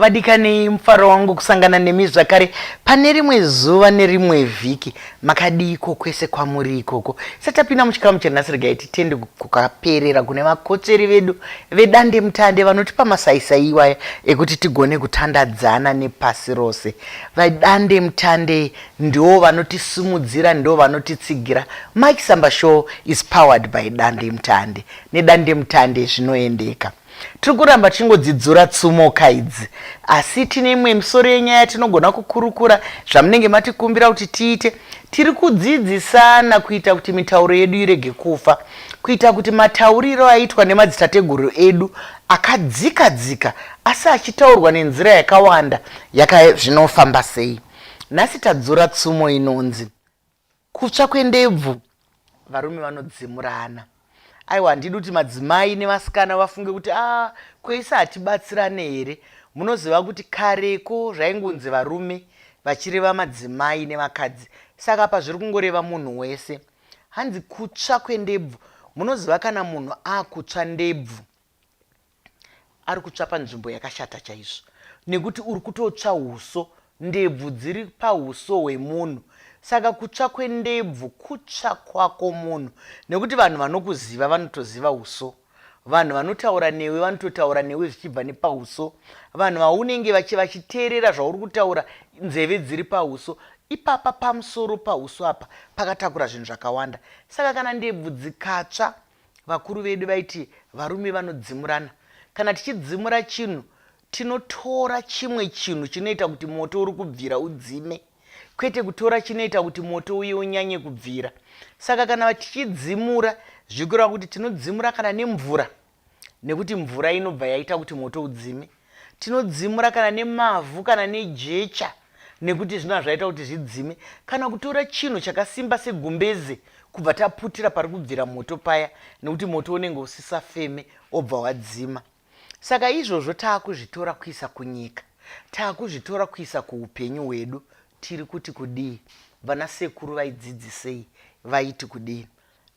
vadikanei mufaro wangu kusangana nemi zvakare pane rimwe zuva nerimwe vhiki makadiiko kwese kwamuri ikoko satapinda muchikamu chanhasi regai titende kukaperera kune vakotsveri vedu vedande mutande vanotipa masaisai iwaya ekuti tigone kutandadzana nepasi rose vadande mutande Ndiwo vanotisimudzira ndiwo vanotitsigira Mike Samba show is powered by Dandemutande neDandemutande zvinoendeka Tiri kuramba tichingodzidzura tsumoka idzi asi tine imwe misoro yenyaya tinogona kukurukura zvamunenge matikumbira kuti tiite tiri kudzidzisana kuita kuti mitauro yedu irege kufa kuita kuti matauriro aitwa nemadzitateguru edu akadzika dzika asi achitaurwa nenzira yakawanda yaka zvinofamba sei Nhasi tadzora tsumo inonzi kutsva kwendebvu varume vanodzimurana. Aiwa handidi kuti madzimai nevasikana vafunge kuti a ah, kweisa hatibatsirane here. Munoziva kuti kareko zvaingunzi varume vachireva madzimai nevakadzi. Saka apa zviri kungoreva munhu wese. Hanzi kutsva kwendebvu. Munoziva kana munhu akutsva ndebvu ari kutsva panzvimbo yakashata chaizvo nekuti uri kutotsva uso ndebvu dziri pauso hwemunhu saka kutsva kwendebvu kutsva kwako munhu nekuti vanhu vanokuziva vanotoziva uso vanhu vanotaura newe vanototaura newe zvichibva nepauso vanhu vaunenge vachiteerera zvauri kutaura nzeve dziri pauso ipapa pamusoro pauso apa pakatakura zvinhu zvakawanda saka kana ndebvu dzikatsva Vakuru vedu vaiti varume vanodzimurana. Kana tichidzimura chinhu tinotora chimwe chinhu chinoita kuti moto uri kubvira udzime kwete kutora chinoita kuti moto uye unyanye kubvira. Saka kana tichidzimura zvikureva kuti tinodzimura kana nemvura nekuti mvura inobva yaita kuti moto udzime. Tinodzimura kana nemavhu kana nejecha nekuti zvino hazvaita kuti zvidzime kana kutora chinhu chakasimba segumbeze kubva taputira pari kubvira moto paya nekuti moto unenge usisafeme obva wadzima. Saka izvozvo taakuzvitora kuisa kunyika, taakuzvitora kuisa kuupenyu hwedu. Tiri kuti kudii? Vana sekuru vaidzidzisei? Vaiti kudini?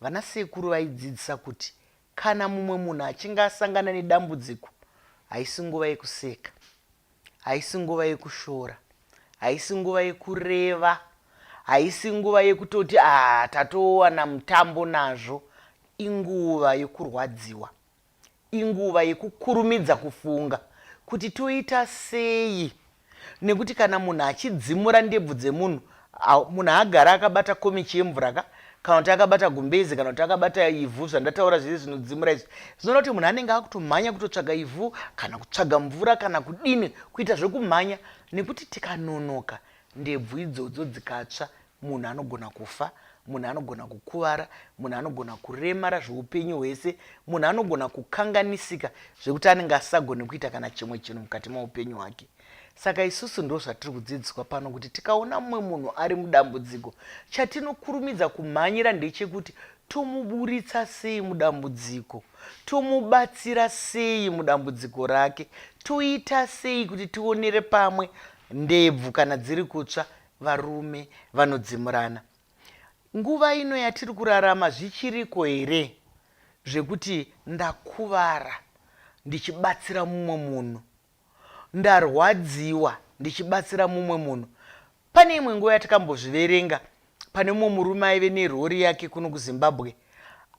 Vana sekuru vaidzidzisa kuti Kana mumwe munhu achinge asangana nedambudziko, haisi nguva yekuseka, haisi nguva yekushora, haisi nguva yekureva, haisi nguva yekutoti ah, tatowana mutambo nazvo. Inguva yekurwadziwa, inguva yekukurumidza kufunga kuti toita sei nekuti kana munhu achidzimura ndebvu dzemunhu munhu haagara akabata komichi yemvura ka kana kuti akabata gumbezi kana kuti akabata ivhu zvandataura zviri zvinodzimura izvi zvinoda kuti munhu anenge akutomhanya kutotsvaga ivhu kana kutsvaga mvura kana kudini kuita zvekumhanya nekuti tikanonoka ndebvu idzodzo dzikatsva Munhu anogona kufa, munhu anogona kukuvara, munhu anogona kuremara zveupenyu hwese, munhu anogona kukanganisika zvekuti anenge asisagone kuita kana chimwe chinhu mukati meupenyu hwake. Saka isusu ndo zvatiri kudzidziswa pano kuti tikaona mumwe munhu ari mudambudziko, chatinokurumidza kumhanyira ndechekuti tomuburitsa sei mudambudziko, tomubatsira sei mudambudziko rake, toita sei kuti tionere pamwe ndebvu kana dziri kutsva Varume vanodzimurana nguva ino yatiri kurarama zvichiriko here zvekuti ndakuvara ndichibatsira mumwe munhu, ndarwadziwa ndichibatsira mumwe munhu. Pane imwe nguva yatakambozviverenga pane mumwe murume aive nerori yake kuno kuZimbabwe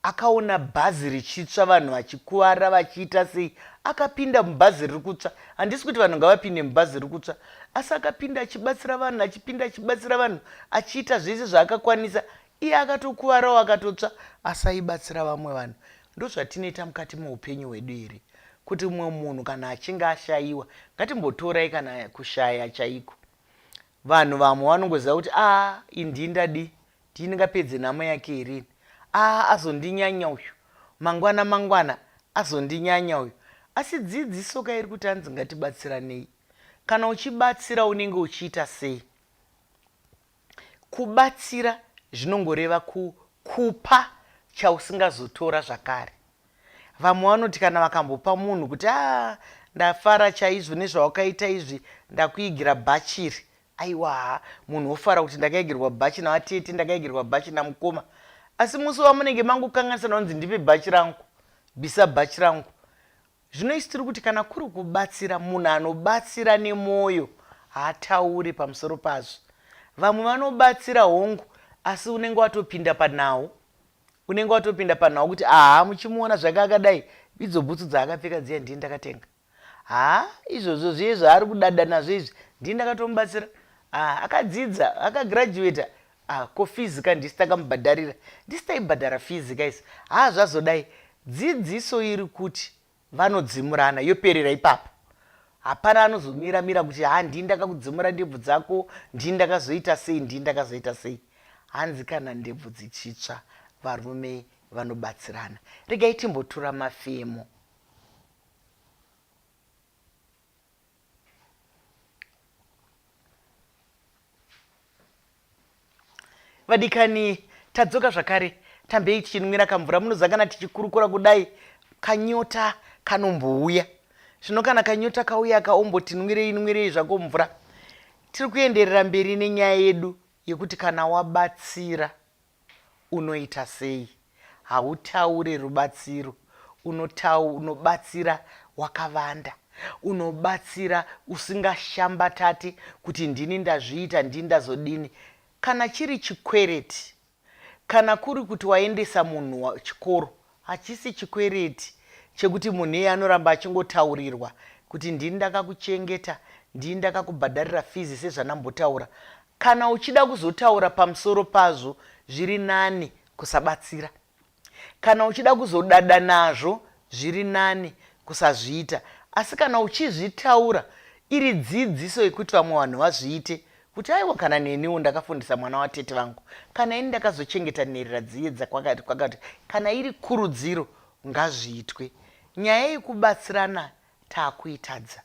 Akaona bhazi richitsva vanhu vachikuvara vachiita sei akapinda mubhazi riri kutsva handisi kuti vanhu ngavapinde mubhazi riri kutsva asi akapinda achibatsira vanhu achipinda achibatsira vanhu achiita zvese zvaakakwanisa iye akatokuvarawo akatotsva asi aibatsira vamwe vanhu ndozvatinoita mukati meupenyu hwedu here kuti mumwe munhu kana achinge ashayiwa ngatimbotorai kana kushaya chaiko vanhu vamwe vanongoziva kuti a ah, indii ndadii Ndini ndingapedze nhamo yake here ini? Aa azondinyanya uyu. Mangwana mangwana azondinyanya uyu. Asi dzidziso ka iri kuti hanzi ngatibatsiranei. Kana uchibatsira unenge uchiita sei? Kubatsira zvinongoreva ku, kupa chausingazotora zvakare. Vamwe vanoti kana vakambopa munhu kuti aa ah, ndafara chaizvo nezvawakaita izvi ndakuigira bhachiri Aiwaa munhu ofara kuti ndakaegerwa bhachi navatete ndakaegerwa bhachi namukoma asi musi wamunenge mangokanganisana kunzi ndipe bhachi rangu bvisa bhachi rangu zvino isi tiri kuti kana kuri kubatsira munhu anobatsira nemwoyo haataure pamusoro pazvo vamwe vanobatsira hongu asi unenge watopinda panhau unenge watopinda panhau kuti aha muchimuona zvake akadai idzo bhutsu dzaakapfeka dziya ndiye ndakatenga Haa izvozvo zviye zvaari kudada nazvo izvi ndini ndakatomubatsira ah akadzidza aka graduater ah ko fees ka ndisi takamubhadharira ndisi taibhadhara fees ka isi haa zvazodai dzidziso iri kuti vanodzimurana yoperera ipapo hapana anozomira mira kuti haa ndini ndakakudzimura ndebvu dzako ndini ndakazoita sei ndini ndakazoita sei hanzi kana ndebvu dzichitsva varume vanobatsirana regai timbotura mafemo vadikani tadzoka zvakare tambei tichinwira kamvura munozangana tichikurukura kudai kanyota kanombouya zvino kana kanyota kauya kaombotinwirei nwirei zvako mvura tiri kuenderera mberi nenyaya yedu yekuti kana wabatsira Unoita sei? Hautaure rubatsiro. Unotau, unobatsira wakavanda. Unobatsira usingashambatati kuti ndini ndazviita, ndini ndazodini. Kana chiri chikwereti, kana kuri kuti waendesa munhu chikoro, hachisi chikwereti chekuti munhu iye anoramba achingotaurirwa kuti ndini ndakakuchengeta, ndini ndakakubhadharira fizi sezvandambotaura. Kana uchida kuzotaura pamusoro pazvo zviri nani kusabatsira. Kana uchida kuzodada nazvo zviri nani kusazviita. Asi kana uchizvitaura iri dzidziso yekuti vamwe vanhu vazviite kuti aiwa kana neniwo ndakafundisa mwana watete vangu kana ini ndakazochengeta nherera dziyedza kwakati kwakati kana iri kurudziro ngazviitwe nyaya yekubatsirana takuitadza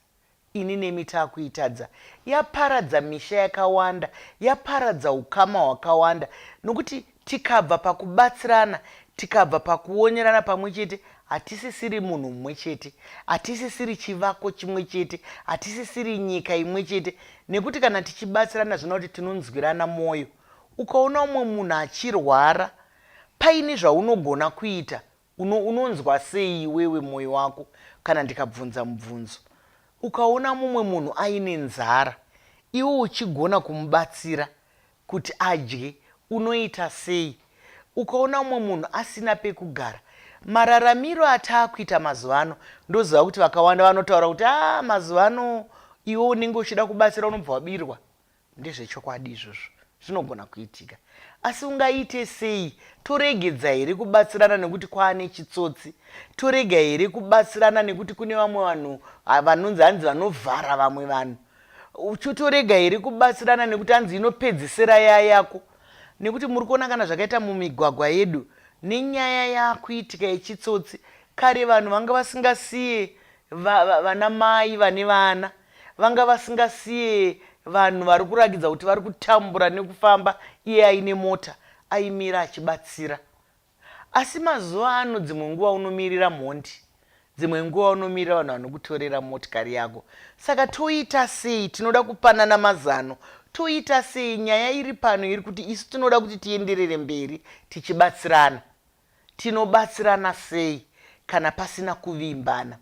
Ini nemi takuitadza. Yaparadza misha yakawanda, yaparadza ukama hwakawanda nokuti tikabva pakubatsirana, tikabva pakuonerana pamwe chete, hatisisiri munhu mumwe chete, hatisisiri chivako chimwe chete, hatisisiri nyika imwe chete nekuti kana tichibatsirana zvinoda kuti tinonzwirana mwoyo. Ukaona umwe munhu achirwara, paine zvaunogona kuita Uno, unonzwa sei iwewe mwoyo wako kana ndikabvunza mubvunzo? Ukaona mumwe munhu aine nzara iwe uchigona kumubatsira kuti adye unoita sei? Ukaona mumwe munhu asina pekugara. Mararamiro ataakuita mazuva ano ndoziva kuti vakawanda vanotaura kuti aa mazuva ano iwe unenge uchida kubatsira unobva wabirwa. Ndezvechokwadi izvozvo, zvinogona kuitika. Asi ungaite sei? Toregedza here kubatsirana nekuti kwaane chitsotsi? Torega here kubatsirana nekuti kune vamwe vanhu vanonzi hanzi vanovhara vamwe vanhu? Uchotorega here kubatsirana nekuti hanzi inopedzisira yaya yako? Nekuti muri kuona kana zvakaita mumigwagwa yedu nenyaya yakuitika yechitsotsi kare vanhu vanga vasingasiye vana mai vane vana Vanga vasingasiye vanhu vari kurakidza kuti vari kutambura nekufamba iye aine mota aimira achibatsira. Asi mazuva ano dzimwe nguva unomirira mhondi, dzimwe nguva unomirira vanhu vanokutorera motikari yako. Saka toita sei? Tinoda kupanana mazano. Toita sei? Nyaya iri pano iri kuti isu tinoda kuti tienderere mberi tichibatsirana. Tinobatsirana sei kana pasina kuvimbana?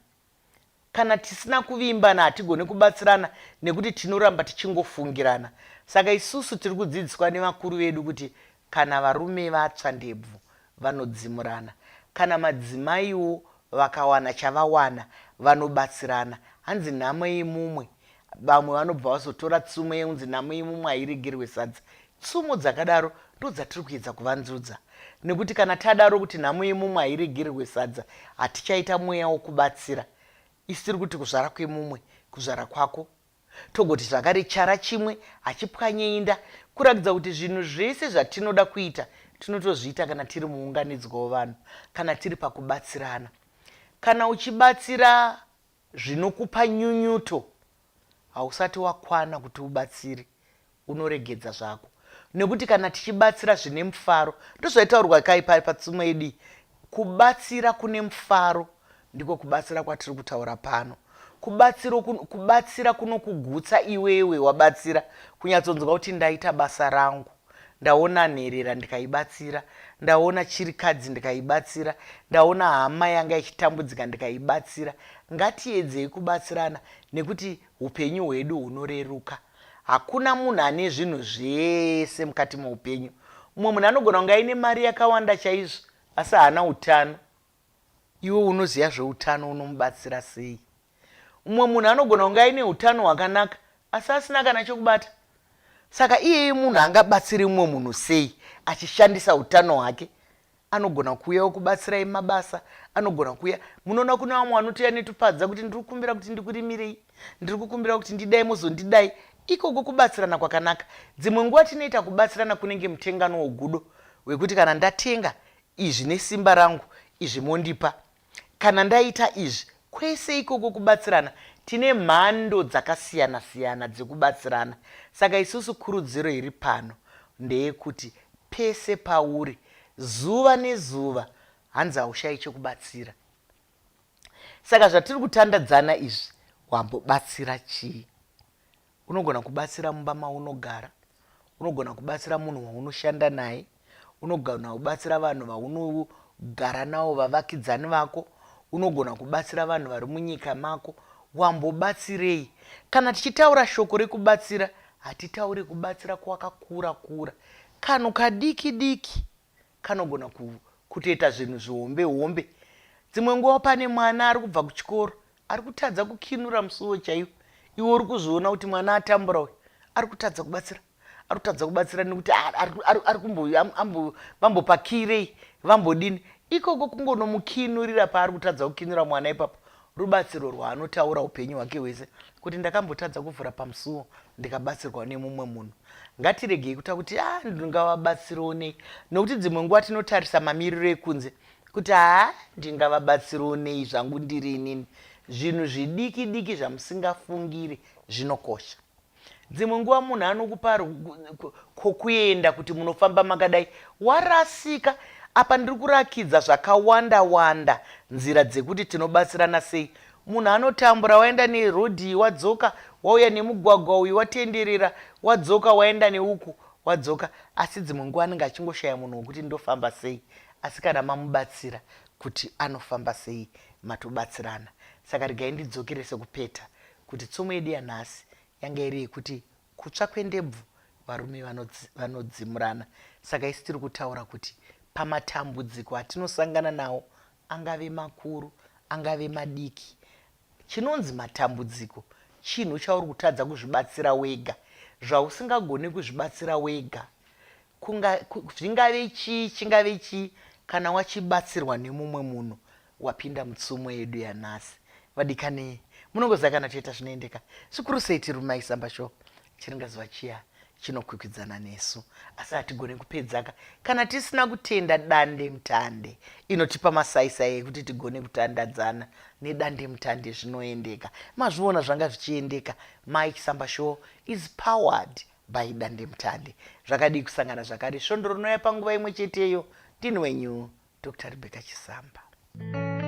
Kana tisina kuvimbana hatigone kubatsirana nekuti tinoramba tichingofungirana. Saka isusu tiri kudzidziswa nevakuru vedu kuti kana varume vatsva ndebvu vanodzimurana. Kana madzimaiwo vakawana chavawana vanobatsirana. Hanzi nhamo yemumwe vamwe vanobva vazotora tsumo yeunzi namo imumwe hairegerwe sadza tsumo dzakadaro ndodzatiri kuedza kuvanzudza nekuti kana tadaro kuti nhamo yemumwe hairegererwe sadza hatichaita mweya wokubatsira isi tiri kuti kuzvara kwemumwe kuzvara kwako togoti zvakare chara chimwe hachipwanyeinda kurakidza kuti zvinhu zvese zvatinoda kuita tinotozviita kana tiri muunganidzwa wevanhu kana tiri pakubatsirana kana uchibatsira zvinokupa nyunyuto hausati wakwana kuti ubatsiri unoregedza zvako nekuti kana tichibatsira zvine mufaro ndozvaitaurwa kai pari patsumo yedii kubatsira kune mufaro ndiko kubatsira kwatiri kutaura pano kubatsiro kubatsira kunokugutsa iwewe wabatsira kunyatsonzwa kuti ndaita basa rangu ndaona nherera ndikaibatsira ndaona chirikadzi ndikaibatsira ndaona hama yanga ichitambudzika ndikaibatsira ngatiedzei kubatsirana nekuti upenyu hwedu hunoreruka hakuna munhu ane zvinhu zvese mukati meupenyu mumwe munhu anogona kunge aine mari yakawanda chaizvo asi haana utano iwe unoziva zveutano unomubatsira sei Mumwe munhu anogona kunge aine utano hwakanaka asi asina kana chokubata. Saka iyeye munhu angabatsire mumwe munhu sei achishandisa utano hwake? Anogona kuuya okubatsirai mabasa, anogona kuuya. Munoona kune vamwe vanoti anetopadza kuti ndiri kukumbira kuti ndikurimirei, ndiri kukumbira kuti ndidai mozondidai. Ikoko kubatsirana kwakanaka. Dzimwe nguva tinoita kubatsirana kunenge mutengano wogudo wekuti kana ndatenga izvi nesimba rangu izvi mondipa. Kana ndaita izvi, kwese ikoko kubatsirana, tine mhando dzakasiyana-siyana dzekubatsirana. Saka isusu kurudziro iri pano ndeyekuti pese pauri, zuva nezuva, hanzi haushayi chekubatsira. Saka zvatiri kutandadzana izvi, wambobatsira chii? Unogona kubatsira mumba maunogara, unogona kubatsira munhu waunoshanda naye, unogona kubatsira vanhu vaunogara navo, vavakidzani vako, unogona kubatsira vanhu vari munyika mako. Wambobatsirei? Kana tichitaura shoko rekubatsira, hatitauri kubatsira kwakakura kura, kanhu kadiki diki. kanogona kutoita zvinhu zvihombe hombe dzimwe nguva pane mwana ari kubva kuchikoro ari kutadza kukinura musuwo chaiwo iwe uri kuzviona kuti mwana atambura uyu ari kutadza kubatsira ari kutadza kubatsira nekuti ari kumbovambopakirei vambodini ikoko kungonomukinurira paari kutadza kukinura mwana ipapo rubatsiro rwaanotaura upenyu hwake hwese kuti ndakambotadza kuvhura pamusuwo ndikabatsirwa nemumwe munhu ngatiregei kuta kuti a ah, ndingavabatsirewo nei nokuti dzimwe nguva tinotarisa mamiriro ekunze kuti haa ah, ndingavabatsirewo nei zvangu ndiri inini zvinhu zvidiki diki zvamusingafungiri zvinokosha dzimwe nguva munhu anokupa kokuenda kuti munofamba makadai warasika apa ndiri kurakidza zvakawanda wanda nzira dzekuti tinobatsirana sei munhu anotambura waenda nerodhi iyi wadzoka wauya nemugwagwa uyu watenderera wadzoka waenda neuku wadzoka asi dzimwe nguva anenge achingoshaya munhu wekuti ndofamba sei asi kana mamubatsira kuti anofamba sei matobatsirana saka regai ndidzokerese kupeta kuti tsumo yedu yanhasi yanga iri yekuti kutsva kwendebvu varume vanodzimurana saka isu tiri kutaura kuti pamatambudziko atinosangana nawo angave makuru angave madiki chinonzi matambudziko chinhu chauri kutadza kuzvibatsira wega zvausingagone kuzvibatsira wega Kunga, zvingave chii chingave chii kana wachibatsirwa nemumwe munhu wapinda mutsumo yedu yanhasi vadikanei munongoziva kana toita zvinoendeka zvikuru sei tiri mumaisamba sho chiringazuva chiya chinokwikwidzana nesu asi hatigone kupedzaka kana tisina kutenda dande mutande inotipa masaisai ekuti tigone kutandadzana nedande mutande zvinoendeka mazviona zvanga zvichiendeka mike samba show is powered By Dandemutande. Zvakadii kusangana zvakare svondo rinouya panguva imwe cheteyo. Ndini wenyu Dr Rebecca Chisamba. Mm -hmm.